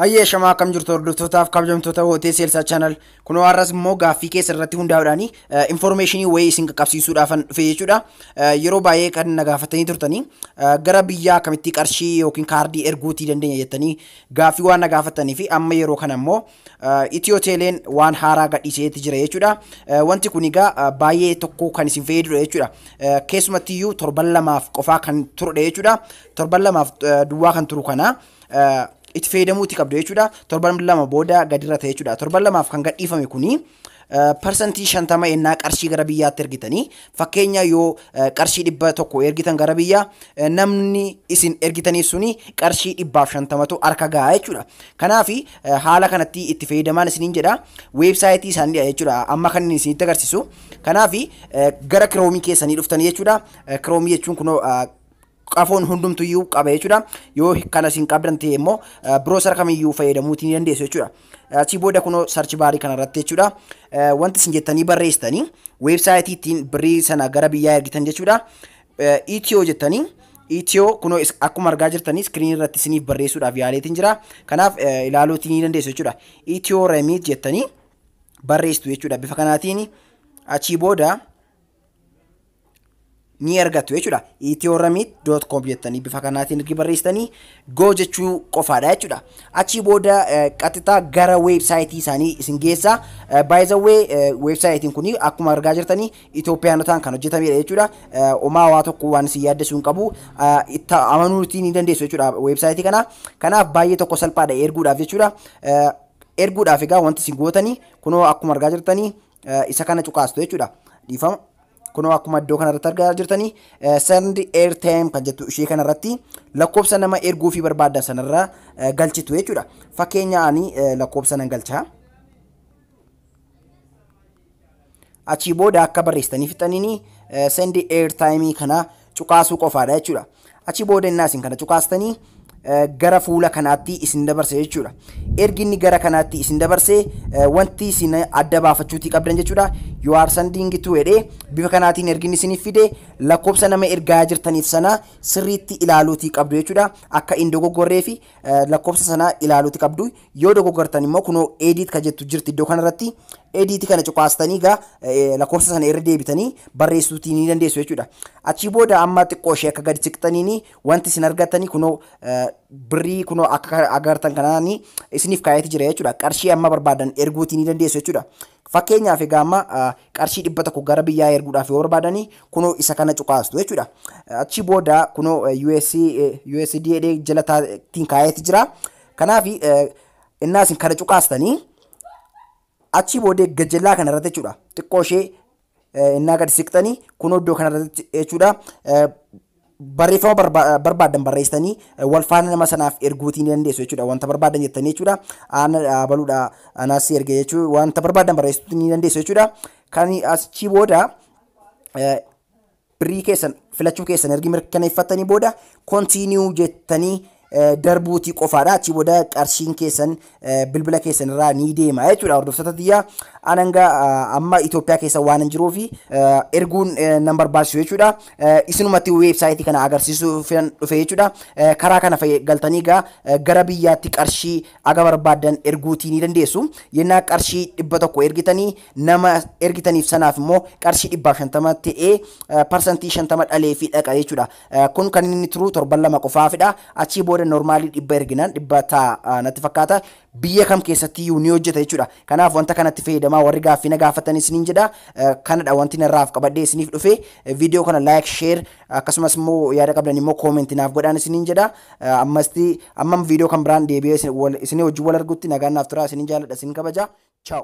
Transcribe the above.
Hayyee shamaa akkam jirtu hordoftootaaf kabajamtoota hootee seelsaa chaanal kunoo har'as immoo gaaffii keessa irratti hundaa'uudhaan infoormeeshinii wayii isin qaqqabsiisuudhaafan dhufe jechuudha. Yeroo baay'ee kan na gaafatanii turtanii gara biyyaa akkamittii qarshii yookiin kaardii erguutii dandeenya jettanii gaaffii waan na gaafattanii fi amma yeroo kana immoo Itiyoo Teeleen waan haaraa gadhiiseeti jira jechuudha. Wanti kun egaa baay'ee tokko kan isin fayyadudha jechuudha. Keessumatti iyyuu torban lamaaf qofaa kan turudha jechuudha. Torban lamaaf duwwaa kan turu kana itti fayyadamuuti qabdu jechuudha. Torban lama booda gadirra ta'e jechuudha. Torban lamaaf kan gadhiifame kuni Parsantii 50 ennaa qarshii gara biyyaatti ergitanii fakkeenya yoo qarshii dhibba tokko ergitan gara biyyaa namni isin ergitaniif suni qarshii dhibbaaf shantamatu harka gahaa jechuudha. Kanaaf haala kanatti itti fayyadamaan isiniin jedha weebsaayitii isaaniidha jechuudha amma kan inni isinitti agarsiisu. Kanaaf gara kiroomii keessanii dhuftanii jechuudha. Kiroomii jechuun kunoo qafoon hundumtu iyyuu qaba jechuudha. Yoo kanas hin qabdan ta'e immoo biroosara kamiyyuu fayyadamuuti ni dandeessu jechuudha. Achii booda kunoo sarchi baarii kanarratti jechuudha. Wanti isin jettanii barreessitanii weebsaayitii ittiin birrii sana gara biyyaa ergitan jechuudha. Itiyoo jettanii Itiyoo kunoo akkuma argaa jirtanii iskiriinii irratti isiniif barreessuudhaaf yaaleetiin jira. Kanaaf ilaaluuti ni dandeessu jechuudha. Itiyoo remiit jettanii barreessitu jechuudha bifa kanaatiin achii booda ni argattu jechuudha. ethioramit.com jettanii bifa kanaatiin ergi barreessitanii go jechuu qofaadha jechuudha. Achii booda qaxxitaa gara weebsaayitii isaanii isin geessa. Baay'izawwee weebsaayitiin kun akkuma argaa jirtanii Itoophiyaanotaan kan hojjetamedha jechuudha. Omaa waa tokko waan isin yaaddessuu hin qabu. Itti amanuutii ni dandeessu jechuudha weebsaayitii kana. Kanaaf baay'ee tokko salphaadha erguudhaaf jechuudha. Erguudhaaf egaa wanti isin gootanii kunoo akkuma argaa jirtanii isa kana cuqaastu jechuudha. Dhiifama. Kunoo akkuma iddoo kanarratti argaa jirtanii send airtime kan jettu ishee kanarratti lakkoofsa nama erguu fi barbaadda sanarra galchitu jechuudha. Fakkeenya ani lakkoofsa nan galchaa. Achii booda akka barreessitanii fixaniin send airtime kana cuqaasuu qofaadha jechuudha. Achi booda innaa isin kana cuqaastanii gara fuula kanaatti isin dabarsa jechuudha. Ergi inni gara kanaatti isin dabarse wanti isin adda baafachuutii qabdan jechuudha. You are sending to jedhee bifa kanaatiin ergi inni isiniif fide lakkoofsa nama ergaa jirtaniif sana sirriitti ilaaluutii qabdu jechuudha. Akka hin dogoggorree fi lakkoofsa sana ilaaluutii qabdu. Yoo dogogartan immoo kunoo edit ka jettu jirti iddoo kanarratti edit kana cuqaastanii gaa lakkoofsa sana irra deebitanii barreessuutii ni dandeessu jechuudha. Achii booda amma xiqqoo ishee akka gadi siqxaniini wanti isin argattanii kunoo birrii kunoo akka agartan kanaani isiniif kaayati jira jechuudha. Qarshii amma barbaadan erguutii ni dandeessu jechuudha. Fakkeenyaaf egaa amma qarshii dhibba tokko gara biyyaa erguudhaaf yoo barbaadanii kunoo isa kana cuqaastu jechuudha. Achii booda kunoo US USD jala taatiin kaayati jira. Kanaaf innaa isin kana cuqaastanii achii boodee gajellaa kana irratti jechuudha xiqqoo ishee innaa gad siqxanii kun iddoo kana irratti jechuudha barreeffama barbaadan barreessitanii wal faana nama sanaaf erguutii ni dandeessu jechuudha wanta barbaadan jettanii jechuudha aana dhaabaluudha anaas si erge jechuu wanta barbaadan barreessuu ni dandeessu jechuudha kan achii booda Birrii keessan filachuu keessan ergi mirkaneeffattanii booda continue jettanii eh, darbuutii qofaadha. Achii booda qarshiin keessan eh, bilbila keessan irraa ni deema jechuudha. Hordoftoota tiyyaa an hanga ah, amma Itoophiyaa keessa waan hin jiruu fi eh, erguun eh, nan barbaachisu jechuudha. Eh, Isinumatti weebsaayitii kana agarsiisuu filan dhufe jechuudha. Eh, Karaa kana fayyad- galtanii gaa eh, gara biyyaatti qarshii aga barbaaddan erguutii ni dandeessu. Yennaa qarshii dhibba tokko ergitanii nama ergitaniif sanaaf immoo qarshii dhibbaa shantama ta'ee parsantii shantama dhalee fi dhaqa jechuudha. Kun kan inni turu torban lama qofaafidha. Achii booda normaalii dhibba erginaan dhibba ta'a natti fakkaata. Biyya kam keessatti iyyuu ni hojjeta jechuudha. Kanaaf wanta kanatti fayyadamaa warri gaaffii na gaafatan isiniin jedha. Kanadha wanti narraaf qabadhee isiniif dhufe. Viidiyoo kana like, share, Akkasumas immoo yaada qabdan immoo comment naaf godhaan isiniin jedha. Ammasti ammam viidiyoo kan biraan deebi'ee isinii wajjin wal argutti nagaan naaf turaa isiniin jaaladha isin kabaja. Ciao.